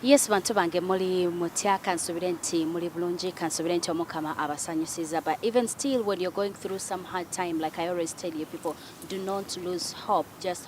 Yes bantu bange muli mutya kansubire nti muli bulungi kansubire nti omukama abasanyusiza but even still when you're going through some hard time like I always tell you people do not lose hope just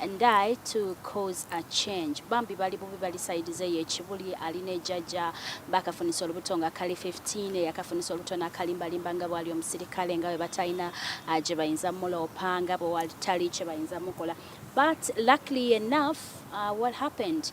and I to cause a change bambi bali bubi bali side ze ye kibuli ali ne jaja bakafunisa olubuto nga kali 15 e yakafunisa olubuto na kalimba limba nga bwali omusirikale nga webatayina aje bayinza mula opanga bo wali tali che bayinza mukola but luckily enough uh, what happened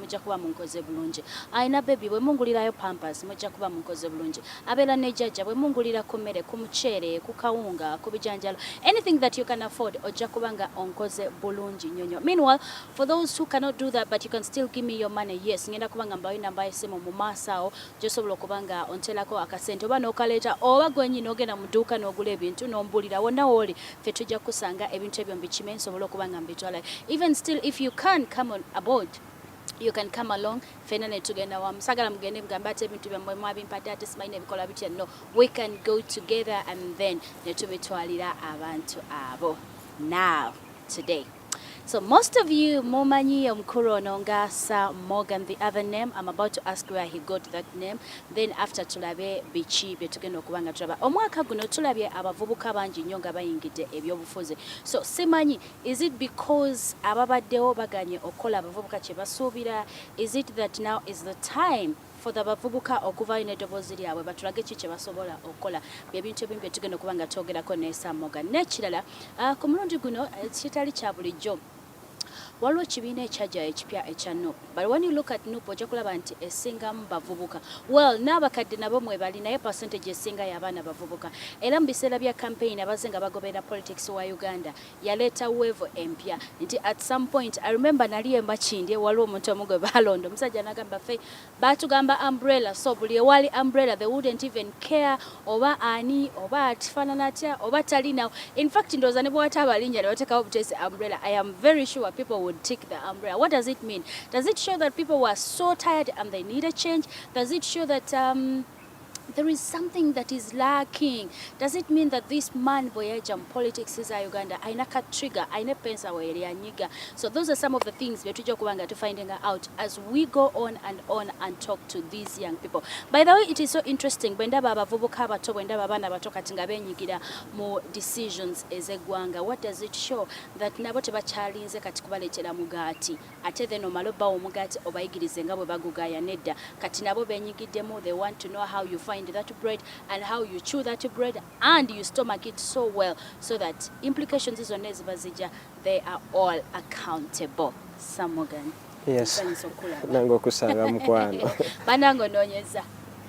mujja kuba munkoze bulungi alina bebi bwe mungulirayo pampas mujja kuba munkoze bulungi abeera ne jajja bwe mungulira ku mmere ku muceere ku kawunga ku bijanjalo anything that you can afford ojja kuba nga onkoze bulungi nnyo nnyo meanwhile for those who cannot do that but you can still give me your money yes ngenda kuba nga mbawe namba y'essimu mu maaso awo gy'osobola okuba nga onteerako akasente oba n'okaleeta oba gwe nnyini ogenda mu dduuka n'ogula ebintu n'ombuulira wonna w'oli ffe tujja kukusanga ebintu ebyo mbikime nsobole okuba nga mbitwalayo even still if you can come on aboard you can come along fena netugenda wamu sagala mugende mugamba ati ebintu byammwe mwabimpadde ate simanyi nebikola bitya no we can go together and then netubitwalira abantu abo now today So most of you mumanyi omukulu ono nga Sir Morgan the other name I'm about to ask where he got that name then after tulabe biki bye tugenda okuba nga tulaba omwaka guno tulabye abavubuka bangi nnyo nga bayingidde ebyobufuzi so simanyi is it because ababaddewo baganye okukola abavubuka kye basuubira is it that now is the time for the bavubuka okuvaayo n'eddoboozi lyabwe batulage ki kye basobola okukola bye bintu ebimu bye tugenda okuba nga twogerako ne Sam Morgan n'ekirala uh, ku mulundi guno eh, kitali kya bulijjo waliwo ekibiina ekyaja ekipya ekya nup but when you look at nup ojja kulaba nti esingamu bavubuka well n'abakadde nabo mwebali naye percentage esinga y'abaana bavubuka era mu biseera bya campaign abazze nga bagoberera politics wa uganda yaleeta weevo empya nti at some point I remember nali emakindye waliwo omuntu omu gwe baalonda omusajja nagamba fe baatugamba umbrella so buli ewaali umbrella they wouldn't even care oba ani oba atifaanana atya oba talinawo in fact ndowooza ne bwewataaba alinnya ne bateekawo buteesi umbrella I am very sure people would tick the umbrella what does it mean does it show that people were so tired and they need a change does it show that um, there is something that is lacking does it mean that this man boyaja mu politics za uganda aina ka trigger aina pensa weyeli anyiga so those are some of the things betuja kubanga to finding out as we go on and on and talk to these young people by the way it is so interesting bwenda baba vubuka abato bwenda baba na bato kati nga benyigira mu decisions ezegwanga what does it show that nabo tebakyalinze kati kubaletera mugati Ate then omale obbawa omugati obayigirize nga bwebagugaya nedda kati nabo benyigiddemu they want to know how you find that bread and how you chew that bread and you stomach it so well so that implications zonna eziba zijja they are all accountable samogan yes nange okusanga mukwano banange ononyeza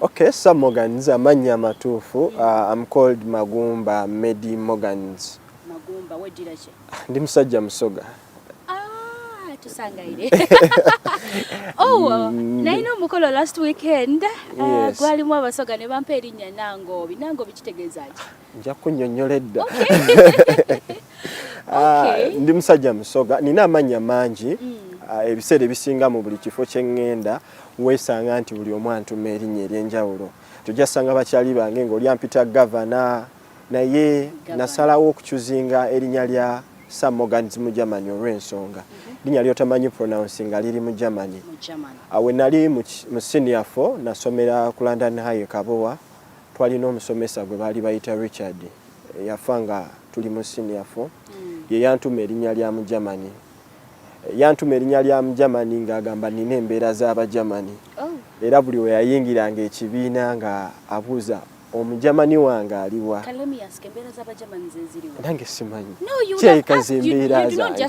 Okay, Sam Morgans amannya amatuufu mm. uh, I'm called Magumba Medi Morgans. Magumba weddira ki? Ah, ndi musajja musoga. Ah, tusangaire. oh, mm. naye n'omukolo last weekend uh, gwalimu abasoga ne bampa erinnya Nangobi. Nangobi kitegeeza ki? nja kunyonyola edda ah, ndi musajja musoga nina amannya mangi mm. ah, ebiseera ebisinga mu buli kifo kyeŋŋenda weesanga nti buli omu antuma erinnya ery'enjawulo tojasanga bakyali bange ng'oli ampita gavana naye nasalawo okucuzinga erinnya lya sir morgans mu germany olw'ensonga mhm. linnya lyotamanyi pronounce nga liri mu germany awe nali mu senior fo nasomera ku london high kabowa Twalina omusomesa gwe baali bayita Richard yafa nga tuli mu senior four hmm. ye yantuma erinnya lya mu Germany yantuma erinnya lya mu Germany ng'agamba nina embeera z'Abagermany oh. era buli we yayingiranga ekibiina nga abuuza omujamani wange aliwa nange simanyi kyeyikaza embeera zange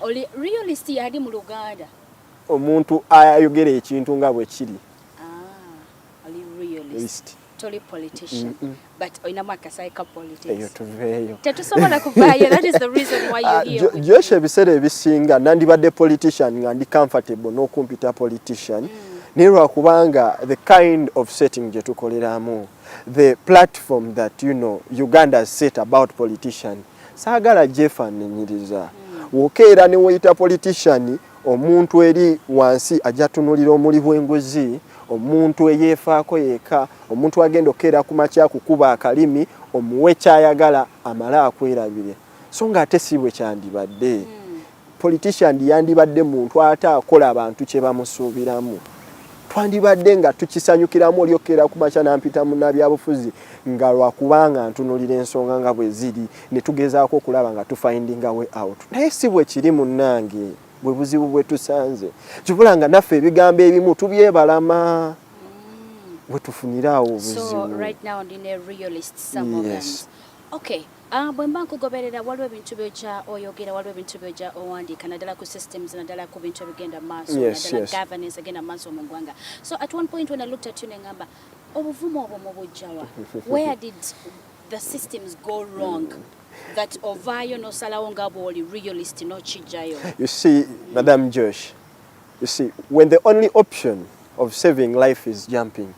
Oli realist yali mu Luganda. Omuntu ayogera ekintu nga bwe kiri. Ah, oli realist. Toli politician. Mm -mm. But oyina mwaka saika politics. Eyo tuveyo. Tetusobola kuvayo. That is the reason why you ah, here. Uh, Josh ebisere bisinga nandi bade politician ngandi comfortable no kumpita politician. Mm. Nirwa kubanga the kind of setting je tukoleramu. The platform that you know Uganda set about politician. Saagala gyefaananyiriza woka era ne weyita politician omuntu eri wansi ajja tunulira omuli bw'enguzi omuntu eyeefaako yeka omuntu agenda okukeera ku makya kukuba akalimi omuwe kyayagala amale akwerabire so nga ate si bwe kyandibadde. politician yandibadde muntu ate akola abantu kye bamusuubiramu twandibadde nga tukisanyukiramu olyokkeera ku makya nampita munabyabufuzi nga lwakubanga ntunulira ensonga nga bwe ziri ne tugezaako okulaba nga tufindinga way out naye si bwe kiri munnange bwe buzibu bwe tusanze kibula nga naffe ebigambo ebimu tubyebalama mm. we tufuniraawo obuzibu so, right now, Ah, bwe mba nkugoberera waliwo ebintu byojja oyogera waliwo ebintu byojja owandiika naddala ku systems naddala ku bintu ebigenda mu maaso naddala governance egenda mu maaso mu ggwanga so at one point when i looked at you nengamba obuvumu obwo mubujjawa where did the systems go wrong that ovaayo nosalawo nga bwoli realist nokijjayo you see madam josh you see when the only option of saving life is jumping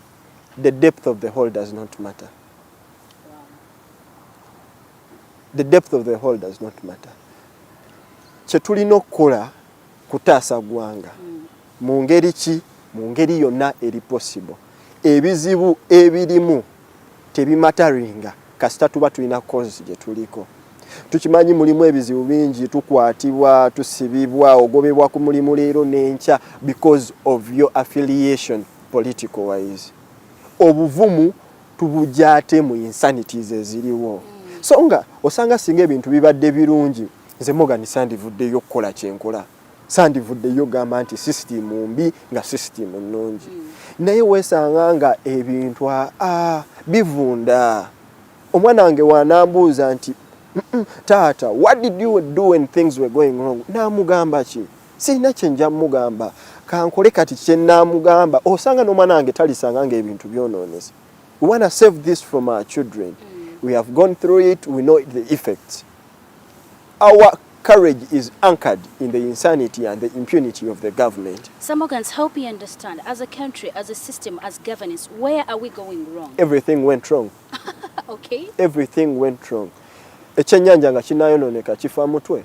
the depth of the hole does not matter the depth of the hole does not matter kyetulina okukola kutaasa ggwanga mm. mu ngeri ki mu ngeri yonna eri possible ebizibu ebirimu tebimataringa kasita tuba tulina kozi gye tuliko tukimanyi mulimu ebizibu bingi tukwatibwa tusibibwa ogobebwa ku mulimu leero n'enkya because of your affiliation political wise obuvumu tubujja ate mu insanities eziriwo mm. so nga osanga singa ebintu bibadde birungi nze Morgan sandivuddeyo okukola kyenkola sandivuddeyo gamba nti sisitimu mbi nga sisitimu nnungi mm. naye weesanga nga ebintu aa bivunda omwana wange wanambuuza nti taata what did you do when things were going wrong naamugamba ki sirina kyenja mugamba kankole kati kyenamugamba osanga nomwana wange talisanga nga ebintu byononese we wanna save this from our children mm. we have gone through it we know the effects our courage is anchored in the insanity and the impunity of the government samogans help me understand as a country as a system as governance where are we going wrong everything went wrong okay everything went wrong ekyenyanja nga kinayononeka kifa mutwe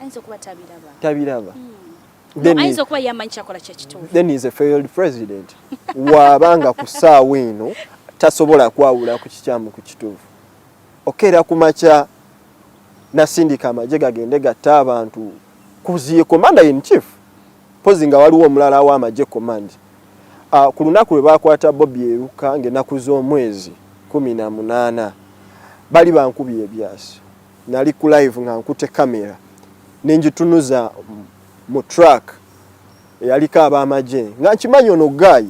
ayinza okuba tabiraba tabiraba hmm. ayinza okuba yamanyi kyakola kyekituufu then is a failed president waaba nga ku ssaawa eno tasobola kwawula ku kikyamu ku kituufu okeera ku makya nasindika amagye gagende gatta abantu kuziye commander in chief pozi nga waliwo omulala w'amagye command uh, ku lunaku lwe baakwata bobi eruka ng'enaku z'omwezi kumi na munaana bali bankubye ebyasi nali ku live nga nkute camera nenjitunuza mu truck yaliko abamaje nga nkimanyi ono guy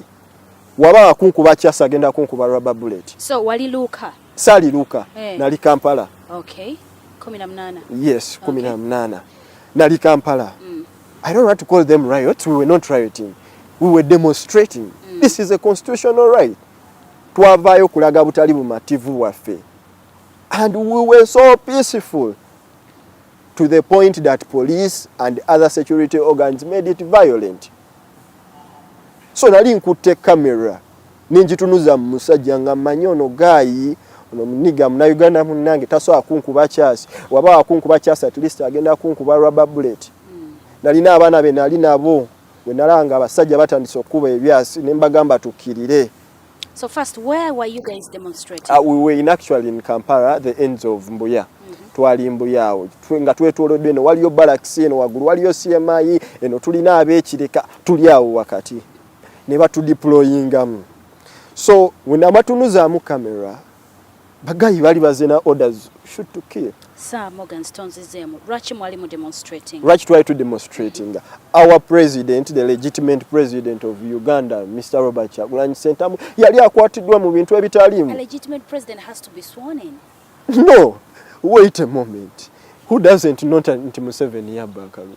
waba akunkuba kyasa agenda kunkuba rubber bullet so wali luka sali luka hey. Eh. nali kampala okay 18 yes 18 okay. nali kampala mm. i don't want to call them riots we were not rioting we were demonstrating mm. this is a constitutional right twavayo kulaga butali bumativu waffe And we were so peaceful to the point that police and other security organs made it violent. So nali nkutte camera ninjitunuza musajja nga manyi ono gaayi ono muniga munauganda munange tasobola kunkuba kyasi waba wakunkuba kyasi at least agenda kunkuba rubber bullet mm. nalina abaana be nali nabo wenalanga abasajja batandise okukuba ebyasi nembagamba tukirire So first, where were you guys demonstrating? Uh, we were in actually in Kampala, the ends of Mbuya. Mm -hmm. Twali Mbuya awo nga twetolodde eno waliyo barracks eno waggulu waliyo CMI eno tulina abekireka tuli awo wakati ne batudeployingamu so wenamatunuzamu camera bagayi bali bazina orders shoot to kill sir morgan stones zemu lwaki mwali mu demonstrating lwaki twali tu demonstrating our president the legitimate president of uganda mr robert chagulanyi sentamu yali akwatiddwa mu bintu ebitaliimu legitimate president has to be sworn in no wait a moment who doesn't not nti museveni yabba akabi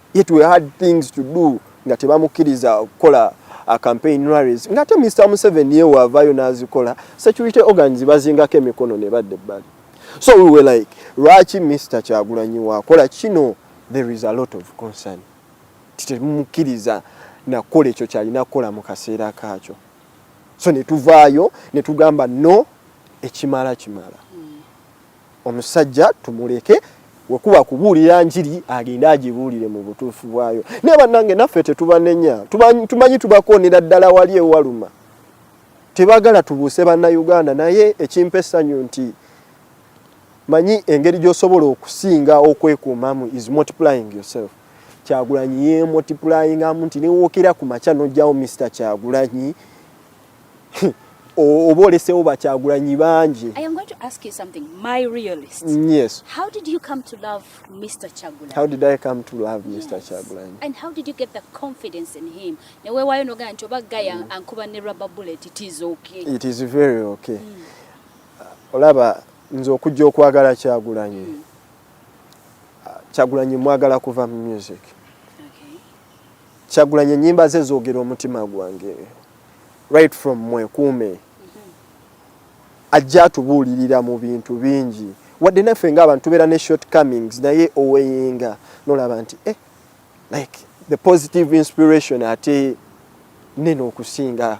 yet we had things to do nga tebamukkiriza okukola uh, campaign rallies nga ate Mr Museveni ye waavaayo n'azikola security organs bazingako emikono ne badda ebbali so we were like lwaki Mr Kyagulanyi waakola kino there is a lot of concern titemukkiriza nakukola ekyo kyalina kukola mu kaseera kaakyo so ne tuvaayo ne tugamba no ekimala kimala mm. omusajja tumuleke wekuba kubuulira njiri agende agibuulire mu butuufu bwayo naye bannange naffe tetubanenya tumanyi tubakoonera ddala wali ewaluma tebagala tubuuse bannayuganda naye ekimpa essanyu nti manyi engeri gy'osobola okusinga okwekuumamu is multiplying yourself kyagulanyi yemultiplyingamu nti newookera ku makya nojjawo mr kyagulanyi oba olesewo bakyagulanyi bangi newewayo nogamba nti oba gaya mm. ankuba ne rubber bullet it is okay it is very okay mm. olaba nze okujja okwagala kyagulanyi mm. kyagulanyi mwagala kuva mu music okay. kyagulanyi enyimba ze zogera omutima gwange right from mwekuume ajja atubuulirira mu bintu bingi wadde naffe nga abantu tubeera ne short comings naye oweyinga nolaba nti eh, like the positive inspiration ate nene okusinga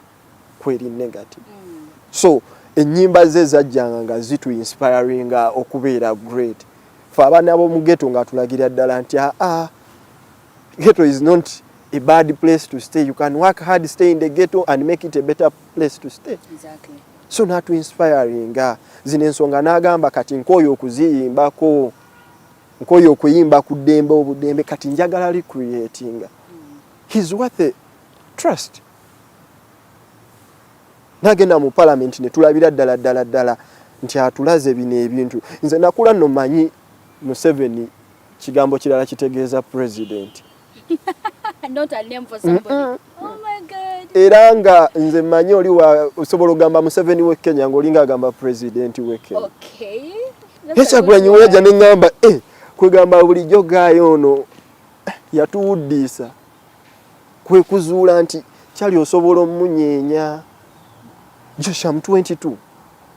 kweri negative mm. so enyimba ze zajjanga nga zitu inspiringa okubeera great fe abaana bomugeto nga tulagira ddala nti aa ah, ah, Ghetto is not a bad place to stay. You can work hard, stay in the ghetto and make it a better place to stay. Exactly. So natu inspiring nga zino ensonga n'agamba kati nkooye okuziyimbako nkooye okuyimba ku ddembe obuddembe kati njagala recreatinga mm. his worth a trust nagenda mu palamenti ne tulabira ddala ddala ddala nti atulaze bino ebintu nze nakula no manyi museveni Kigambo kirala kitegeeza president. Not a name for somebody. Mm -mm. Oh my God. Era nga nze manyi oli wa osobola ogamba Museveni we Kenya nga olinga agamba president we Kenya. Okay. Hesa gwenyi weja ne ngamba eh kwegamba buli jogayo ono eh, yatuwuddisa kwe kuzuula nti kyali osobola omunyenya Josham 22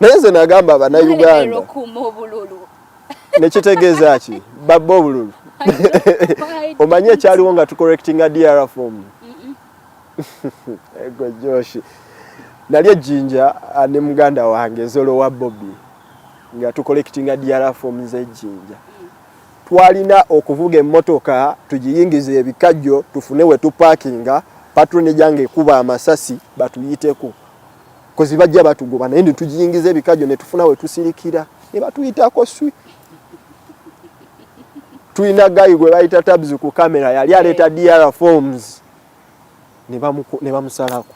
naye nze nagamba banauganda nekitegeeza ki babba obululu omanyi ekyaliwo nga tucorrectinga dr form ego joshi nali ejjinja ah, ne muganda wange zolo wa bobi nga tucollectinga dr form zejjinja twalina okuvuga emmotoka tugiyingiza ebikajjo tufune we tupakinga patroni gyange ekuba amasasi batuyiteko kozi bajja batugoba naye netujiyingiza ebikajo netufuna wetusilikira nebatuyitako swi tulina gayi gwe bayita tabs ku kamera yali aleeta dr forms ne bamusalako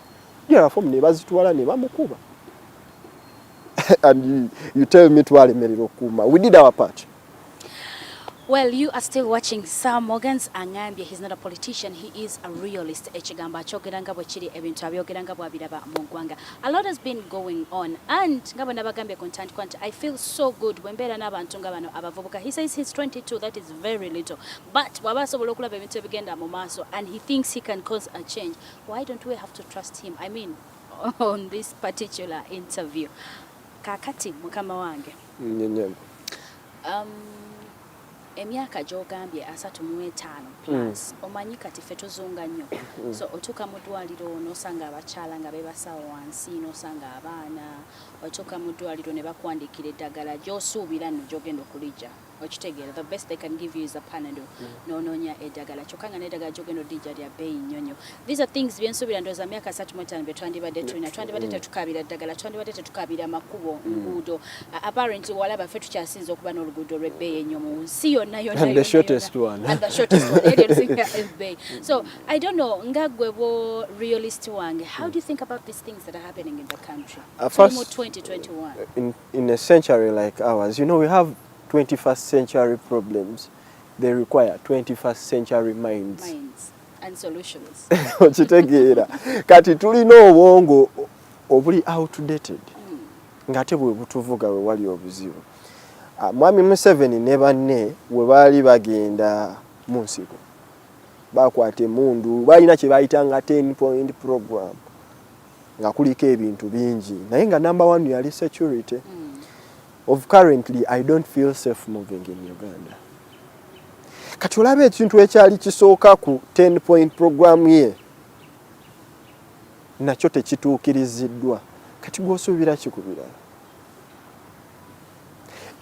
dr form ne bazitwala ne bamukuba and you, you tell me twalemerera okukuuma we did our part Well, you are still watching Sir Morgan's Angambye. He's not a politician, he is a realist. Ekigambo akyogera nga bwe kiri ebintu abyogera nga bw'abiraba mu ggwanga. A lot has been going on and nga bwe nabagambye ku ntandikwa nti I feel so good bwe mbeera n'abantu nga bano abavubuka. He says he's 22, that is very little. But bw'aba asobola okulaba ebintu ebigenda mu maaso and he thinks he can cause a change. Why don't we have to trust him? I mean, on this particular interview. Kakati mukama wange. Nnyonnyole. Um, emyaka gy'ogambye asatu mu etaano mm. plus omanyi kati ffe tuzunga nnyo mm. so otuuka mu ddwaliro n'osanga abakyala nga beebasawo wansi n'osanga abaana otuuka mu ddwaliro ne bakwandiikira eddagala gy'osuubira nno gy'ogenda okulijja okitegeera the best they can give you is a panado mm. n'onoonya eddagala kyokka nga n'eddagala gy'ogenda odijja lya bbeeyi nnyo nnyo These are things byensuubira ndowooza myaka asatu mu etaano bye twandibadde tulina twandibadde mm. tetukaabira ddagala twandibadde tetukaabira makubo mm. nguudo uh, apparently walaba ffe tukyasinza okuba n'oluguudo olw'ebbeeyi ennyo mu nsi yonna yonnaebay mm. so i don't know nga gwe bwo realist wange how do you think about these things that are happening in the country uh, first, mu 2021 in, in a century like ours you know we have 21st century problems they require 21st century minds, minds. okitegeera kati tulina obwongo obuli outdated hmm. ng'ate bwe butuvuga we wali obuzibu ah, mwami museveni ne banne we baali bagenda mu nsiko bakwata emundu balina kye bayitanga 10 point program nga kuliko ebintu bingi naye nga number one yali security mm. of currently I don't feel safe moving in Uganda. Kati olaba ekintu ekyali kisooka ku 10 point program ye nakyo tekituukiriziddwa kati gwosuubira kikubira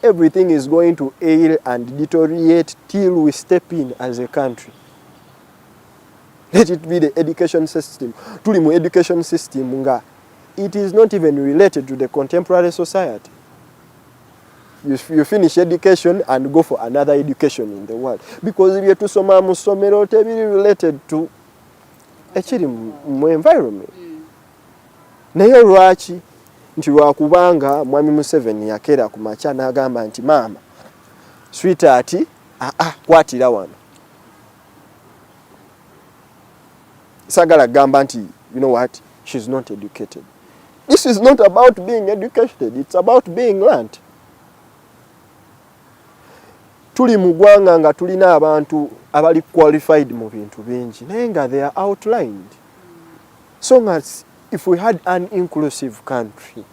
everything is going to ail and deteriorate till we step in as a country let it be the education system tuli mu education system nga it is not even related to the contemporary society you, you finish education and go for another education in the world because byetusoma mu ssomero tebiri related to ekiri mu environment mm. naye lwaki nti lwakubanga mwami museveni yakera ku makya n'agamba nti maama swita ati aa ah, ah, kwatira wano sagala gamba nti you know what she is not educated this is not about being educated it's about being learnt tuli mu gwanga nga tulina abantu abali qualified mu bintu bingi naye nga they are outlined so nga if we had an inclusive country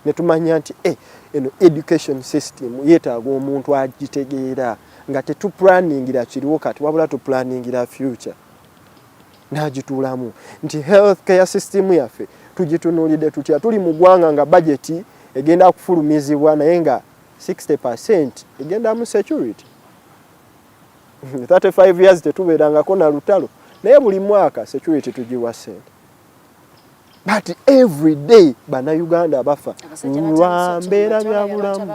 netumanya nti eh, eno education system yetaaga omuntu agitegeera nga tetuplaningira kiriwo kati wabula tuplaningira future n'agituulamu nti health care system yaffe tugitunulidde tutya tuli mu ggwanga nga bajeti egenda kufulumizibwa naye nga 60 percent egenda mu security 35 years tetubeerangako na lutalo naye buli mwaka security tugiwa sente but every day banauganda bafa lwa mbeera byabulamu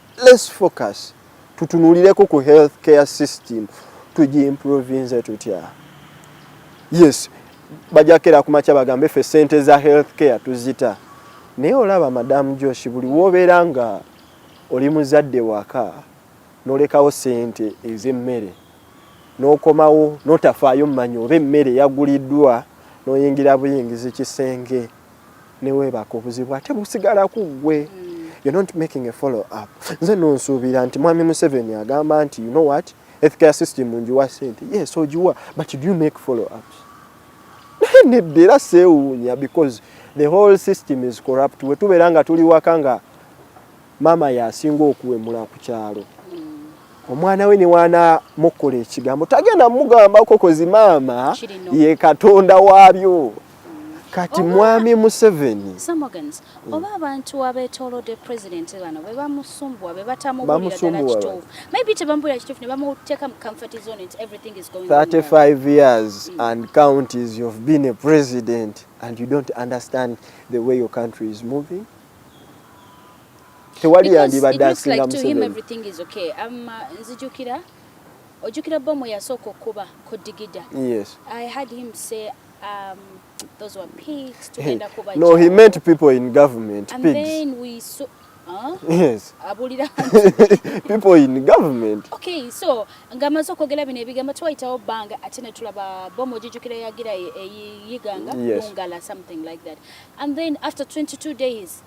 Let's focus tutunulireko ku health care system tugiimprovinze tutya yes bajakera kumakya bagambe fe sente za health care tuzita naye olaba madamu josh buli wobeera nga oli muzadde waka nolekawo sente ezemmere nokomawo notafaayo mumanya oba emmere yaguliddwa noyingira buyingizi kisenge newebaka obuzibu ate busigala ku ggwe mm. you're not making a follow up nze nonsuubira nti mwami museveni agamba nti you know what healthcare system njiwa sente yes ogiwa but do you make follow ups naye nedda era seewuunya because the whole system is corrupt wetubeera nga tuli waka nga maama yasinga okuwemula ku kyalo omwana we newana mukola ekigambo tagenda mugambako kozi maama ye katonda waabyo kati mwami museveni mm. oba abantu abetolode president bano bebamusumbwa bebatamubuliraddalakituufu maybe tebamubulira kituufu ne bamuteeka mu comfort zone nti everything is going 35 years mm. and counties you've been a president and you don't understand the way your country is moving tewali yandibadde asinga museveni um, nzijukira ojjukira bomu yasooka okuba ku digida yes. i had him say Um, those were pigs. Tugenda kuba no, he meant people in government. And pigs. then we saw Huh? Yes. Abulira people in government. Okay, so ngamaze okwogera bino ebigambo twayitawo bbanga ate ne tulaba bomu ojijukira yagira eyiganga e, e, yes. bungala something like that and then after 22 days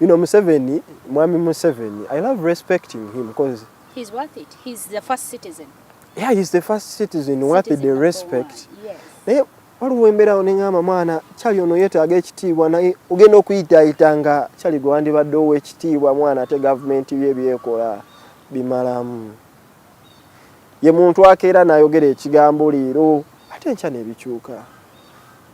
you know Museveni, Mwami Museveni, I love respecting him because he's worth it. He's the first citizen. Yeah, he's the first citizen, citizen worth the respect. The yes. Naye waliwo embeerawo ne ngamba mwana kyali ono yeetaaga ekitiibwa naye ogenda okuyitaayita nga kyali gwe wandibadde ow'ekitiibwa mwana ate gavumenti bye byekola bimalamu ye muntu akeera n'ayogera ekigambo leero ate nkya nebikyuka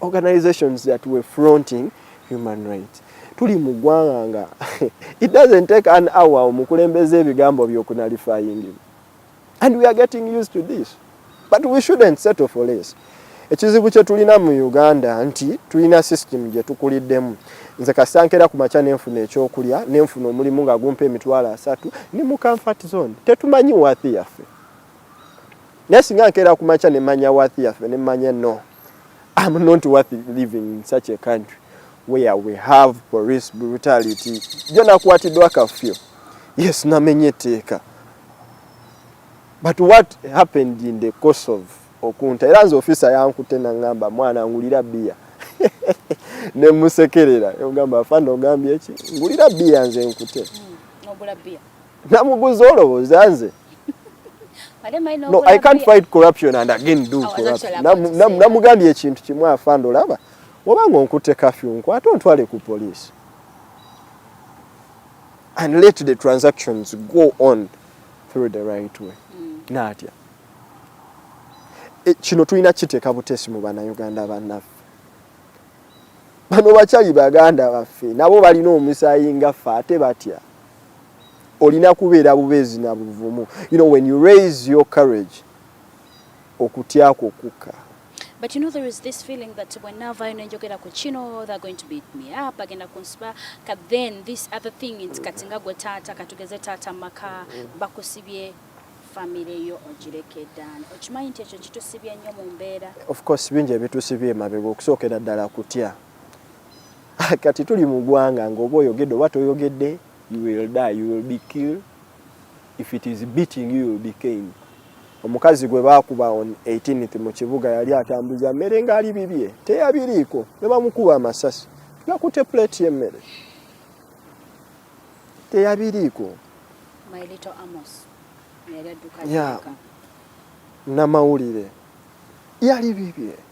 organizations that were fronting human rights tuli mu ggwanga nga it doesn't take an hour omukulembeza ebigambo byokunalifayingi and we are getting used to this but we shouldn't settle for less ekizibu kye tulina mu uganda nti tulina system gye tukuliddemu nze kasankera ku makya nenfuna ekyokulya nenfuna omulimu nga gumpa emitwalo asatu ni mu comfort zone tetumanyi wathi yaffe naye singa nkeera ku makya nemanya wathi yaffe nemanya no I'm not worth living in such a country where we have police brutality. Jo nakwatiddwa kafyo. Yes, namenye etteeka. But what happened in the course of okunta era nze ofisa yankute nangamba mwana ngulira bia ne musekerera ogamba afande ogambye ki ngulira bia nze nkute hmm, Namuguza olowooza nze no i can't fight corruption and again do oh, corruption namugambye ekintu kimu afanda olaba wabanga onkutte kafyu nkwate ontwale ku poliisi and let the transactions go on through the right way mm. natya e, kino tulina kiteeka butesi mu banauganda bannaffe bano bakyali baganda baffe nabo balina omusaayi ngaffe ate batya olina kubeera bubeezi na buvumu you know when you raise your courage okutya kwo kukka But you know there is this feeling that when now Vine and Jogera Kuchino, they're going to beat me up, agenda kunsba, but then this other thing in Katinga Gotata, Katugeze Tata Maka, Bakusibie, family yo ojireke dan. Ochimanyi nti ekyo kitusibye nnyo mu mbeera. Of course bingi ebitusibye emabega okusookera ddala kutya. kati tuli mu gwanga ng'oba oyogedde oba toyogedde you will die you will be killed if it is beating you, you will be caned omukazi gwe baakuba on 18th mu kibuga yali atambuza mmere ng'ali bibye teyabiriiko ne bamukuba amasasi yakute plate y'emmere teyabiriiko namawulire yali bibye